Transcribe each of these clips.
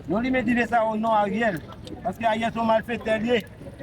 Yon limen dive sa o non ariel. Paske ariel son malfektè liye.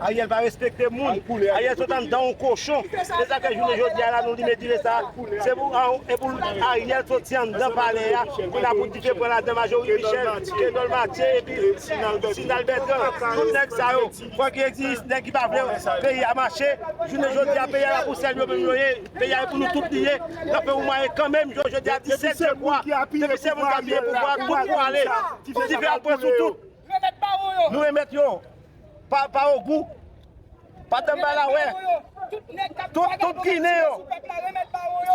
Ariel pa respekte moun. Ariel sot andan yon kochon. Sesa fè jounen jodia la nou limen dive sa. Se pou epoul ariel soti andan palè ya. Pou la pou dive pran ladan majori michel. Kenol matye epi sinal bètran. Tout nèg sa yo. Fok yo egzije nèg ki pa vle peyi ya mache. Jounen jodia peyi ya la pou sèl yo menm yo ye. Peyi a e pou nou tout li ye, nap fè yon mwayen kanmenm jou jodi a 17 je vwa, depi se moun ki apiye pouvwa a tout pou ale, pou dife al pran sou tout. Nou remèt yo, pa ogou, pa danmbala wè, tout ginen yo,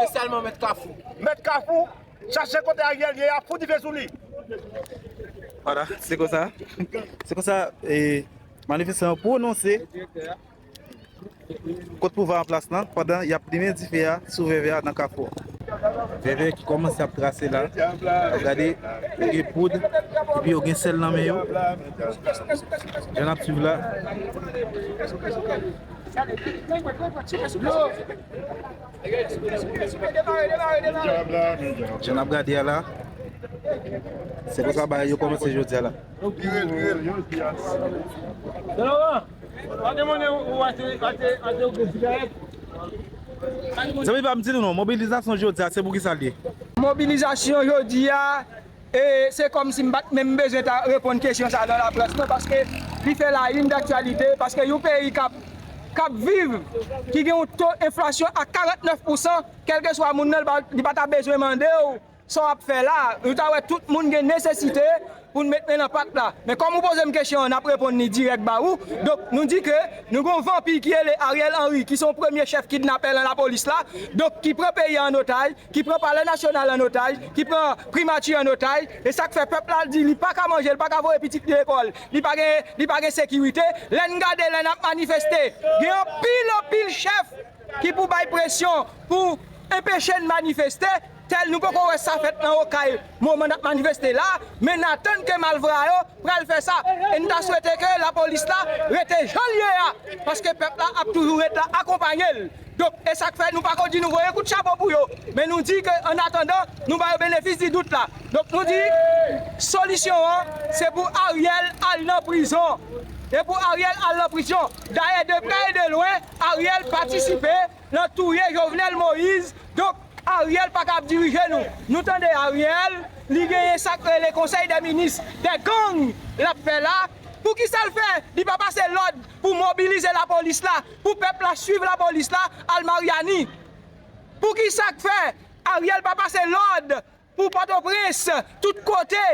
espesyalman mèt kafou, mèt kafou, chache kote Ariel ye a, fout dife sou li. Wala, se konsa, se konsa manifestan yo pwononse. Kot pouvwa anplas lan pandan yap limen dife a sou vèvè a nan kafou an. Vèvè ki kòmanse ap trase la. Wap gade yo gen poud epi yo gen sèl nan men yo. Jan nap swiv la. Jan nap gade a la. Se konsa bagay yo kòmanse jodi a la. Zanmi pa m di nou non, mobilizasyon jodi a se pou kisa l ye? Mobilizasyon jodi a, e se kòm si m pa t menm bezwen ta reponn kesyon sa nan laprès non paske li fè la une d'actualité paske yon peyi kap kap viv ki gen yon to enflasyon a 49 pousan kèlkeswa moun nan li pa ta bezwen mande w Sa wap fè la, nou ta wè tout moun gen nesesite pou n met men nan pat la. Men kòm ou poze m kesyon an, n ap reponn li dirèk ba ou. Donk, nou di ke nou gen yon vanpi ki rele Ariel Henry ki se yon premye chèf kidnapè lan lapolis la. Donk, ki pran peyi a an otaj, ki pran palè nasyonal an otaj, ki pran primati an otaj. E sa k fè pèp la di li pa ka manje, li pa ka voye pitit li lekòl, li pa gen, li pa gen sekirite. Lè n gade, lè n ap manifeste, gen anpil anpil chèf ki pou bay presyon pou enpeche n manifeste. Tel nou poko wè sa fèt nan okay moman nap manifeste la, men na tann ke malvra yo pral fè sa e nou ta swete ke la polis la rete janl ye a paske pèp la ap toujou ret la akonpanyel donk e sak fè nou pako di nou voye kout chapo pou yo men nou di ke an atandan nou ba yo benefis di dout la donk nou di solisyon an se pou Ariel al nan prizon e pou Ariel al nan prizyon dayè de prè e de lwen Ariel patisipe nan touye jovenel moïse donk Ariel paka ap dirije nou nou tande Ariel li genyen sak rele konsèy dè minis dè gang lap fè la poukisal fè li pa pase lòd pou mobilize la polis la pou pèp la swiv la polis la al mariani poukisak fè Ariel pa pase lòd Pou pòtoprens tout kote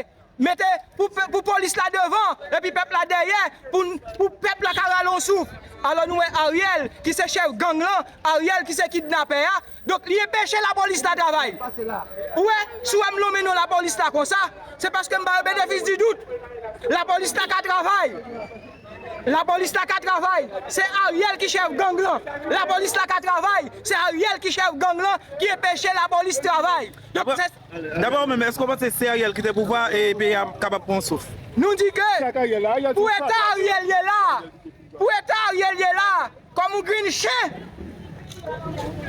mete pou polis la devan epi pèp la dèyè pou pèp la ka rale yon souf alò nou wè Ariel ki se chèf gang lan Ariel ki se kidnapè a donk li enpeche lapolis la travay ou wè si w wè m lonmen non lapolis la konsa se paske m ba yo benefis di dout lapolis la ka travay lapolis la ka travay se Ariel ki chèf gang lan lapolis la ka travay se Ariel ki chèf gang lan ki enpeche lapolis travay. Daprè ou menm, èske ou panse si Ariel kite pouvwa a, peyi a kapab pran yon souf? Nou di ke pou eta Ariel ye la a, pou eta Ariel ye la a, kòm yon grenn chen,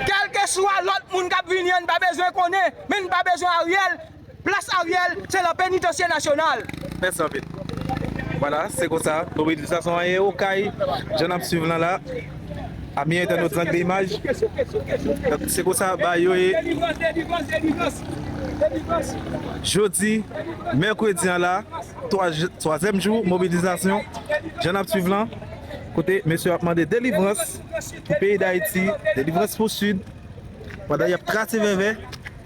kèlkeswa lòt moun k ap vini an n pa bezwen konnen, men n pa bezwen Ariel, plas Ariel se lan penitansye nasyonal. Mèsi anpil. Vwala, se konsa, mobilizasyon an ye okay, jan n ap swiv lan la. Ami entènot zak de imaj se konsa bagay yo ye jodi mèkredi an la twazyèm jou mobilizasyon jan nap swiv lan kote mesye yo ap mande delivrans pou peyi dayiti delivrans pou sid pandan yap trase vèvè